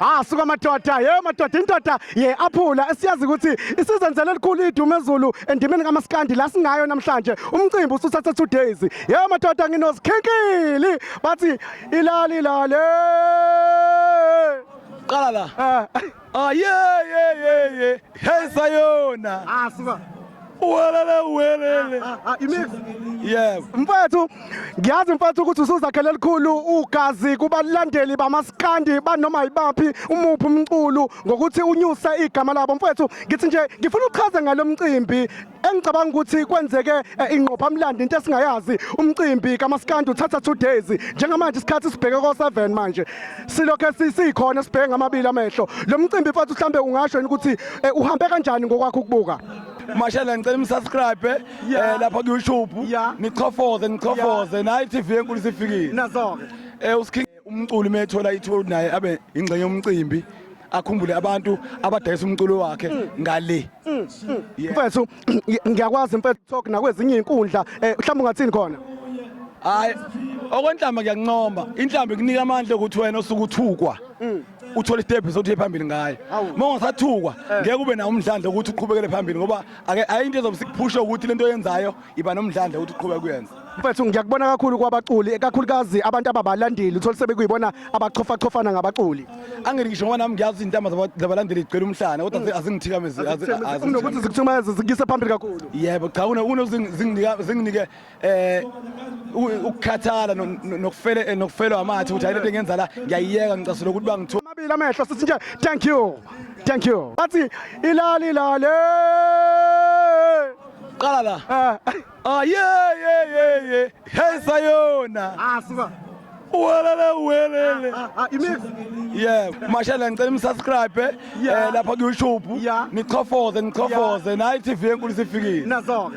ah suka madoda ye madoda indoda ye aphula esiyazi ukuthi isizenzele elikhulu idumo ezulu endimeni kamaskandi la singayo namhlanje umcimbi usuthatha two days ye madoda nginozikhinkili bathi ilali lale qala la ah, ah ye ye ye ye hey sayona ah suka Uwelele uwelele. Ah, ah, imix. Yebo. Mfethu ngiyazi mfethu ukuthi usuzakhele elikhulu ugazi kubalandeli bamaskandi banoma yibaphi umuphi umculo ngokuthi unyuse igama labo mfethu ngithi nje ngifuna uchaze ngalo mcimbi engicabanga ukuthi kwenzeke eh, ingqophamlando into esingayazi umcimbi kamaskandi uthatha two days njengamanje isikhathi sibheke ko-7 manje silokhe sikhona sibheke ngamabili amehlo lo mcimbi mfethu mhlawumbe ungasho yini ukuthi eh, uhambe kanjani ngokwakho ukubuka Mashela ngicela umsubscribe eh, Yeah. eh, lapha ku-YouTube Yeah. nichofoze nichofoze nayi TV enkulu sifikile Nazoke. eh uSking umculi methola ithuba ukuthi naye abe ingxenye yomcimbi akhumbule abantu abadayisa umculo wakhe ngale Yeah. Mfethu ngiyakwazi mfethu talk nakwezinye izinkundla eh mhlawumbe ungathini khona. hayi okwenhlamba ngiyakuncoma inhlamba ikunika amandla ukuthi wena osuke uthukwa uthole istep sokuthi uye phambili ngayo uma ungasathukwa eh. ngeke ube nawo umdlandla ukuthi uqhubekele phambili ngoba ayinto ezomsikuphusha ukuthi lento oyenzayo iba nomdlandla ukuthi uqhubeke kuyenza mfethu ngiyakubona kakhulu kwabaculi kakhulukazi abantu ababalandeli uthole sebekuyibona abachofachophana ngabaculi angeke ngisho ngoba nami ngiyazi intamba zabalandeli igcwele umhlane kodwa mm. azingithikamezi nokuthi zikuthikameze zikuyise phambili kakhulu yebo cha kunozinginike eh ukukhathala nokufele eh, nokufelwa amathe ukuthi ayilento engenza la ngiyayiyeka ngicasula ukuthi bangithola amabili amehlo sithi nje thank you thank you bathi ilali ilale qala la eh. ah ye ye ye ye hey sayona ah suka uwelele uwelele ah, ah, imix yeah mashela ngicela umsubscribe eh, eh lapha ku YouTube nichofoze nichofoze nayi TV enkulu sifikile nazo ke